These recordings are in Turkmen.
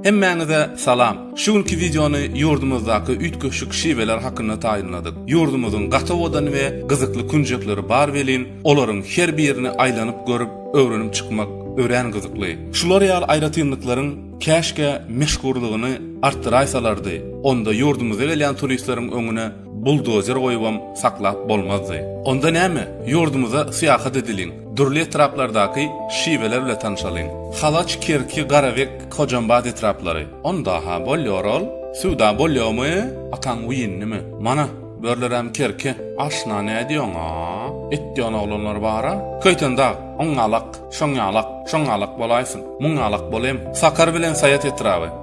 Hemmäňize salam. Şu günki wideony ýurdumyzdaky üýtgeşik şiweler hakynda taýynladyk. Ýurdumyzyň gaty owadan we gyzykly künjekleri bar welin, olaryň her birini aýlanyp görüp, öwrenip çykmak örän gyzykly. Şular ýaly aýratynlyklaryň käşgä meşhurlygyny artdyraýsalardy, onda ýurdumyza gelýän turistleriň öňüne Buldozer goýubam saklap bolmazdy. Onda näme, ýurdumyza syýahat edeliň, dürli etraplardaky şiweler bile tanşalyň. Halaç, Kerki, Garabek, Hojambaz etraplary. Onda-ha, bolýar ol. Söwda bolýarmy? Ataň wiynimi? Mana, börüleräm Kerki. Aşna nädýoň-a? Etýän oglanlar bar-a. Köýten dag, oňňalak, şoňňalak, şoňňalak bolaýsyn. Muňňalak bolaým. Sakar bilen Saýat etraby.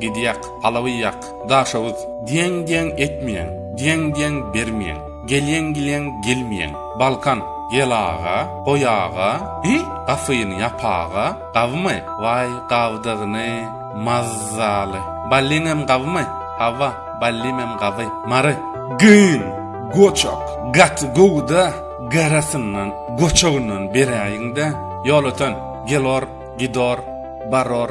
Gidýäk, palawy ýak, Daşoguz, Diýeň-diýeň etmeýäň, Diýeň-diýeň bermeýäň, Gelýeň-gilýäň gelmeýäň, Balkan, Gel aga, goý aga, Hi, gapyny ýap aga, Gabymy? Waý, gabdygyny, mazzaly. Ballimem gabymy? Hawa, ballimem gaby. Mary. Gyn, goçak, gaty gowy-da, garasyndan, goçagyndan beräýiň-dä. Ýolöten, Gelor, Gidor, Baror.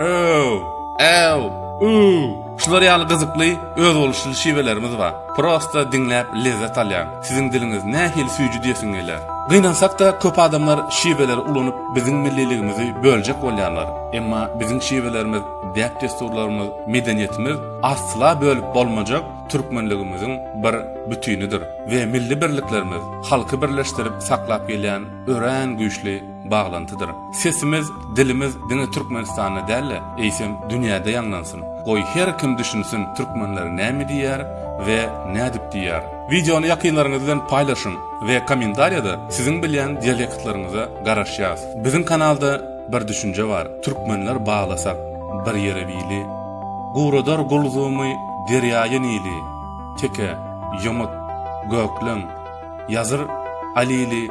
Öw! Äw! Üw! Şular ýaly gyzykly, özboluşly şiwelerimiz bar. Prosta diňläp lezzet alýan. Siziň diliňiz nähili süýji diýesiň gelýär. Gynansak-da, köp adamlar şiweleri ulanyp biziň milliligimizi böljek bolýarlar. Emma biziň şiwelerimiz, däp-dessurlarymyz, medeniýetimiz asla bölüp bolmajak türkmenligimiziň bir bütinidir we milli birliklerimiz halky birleşdirip saklap gelýän örän güýçli baglantydyr. Sesimiz, dilimiz diňe Türkmenistanda däl-de, eýsem dünýäde ýaňlansyn. Goý, her kim düşünsin türkmenler näme diýýär we nädip diýýär. Wideony ýakynlaryňyz bilen paýlaşyň we kommentariýada siziň bilýän dialektlaryňyza garaşýas. Biziň kanalda bir düşünje bar, Türkmenler baglasak bir ýere bili, Guradar gulzumy derýaýy Nili, Teke, Ýomut, Gökleň, Ýazyr, Alili,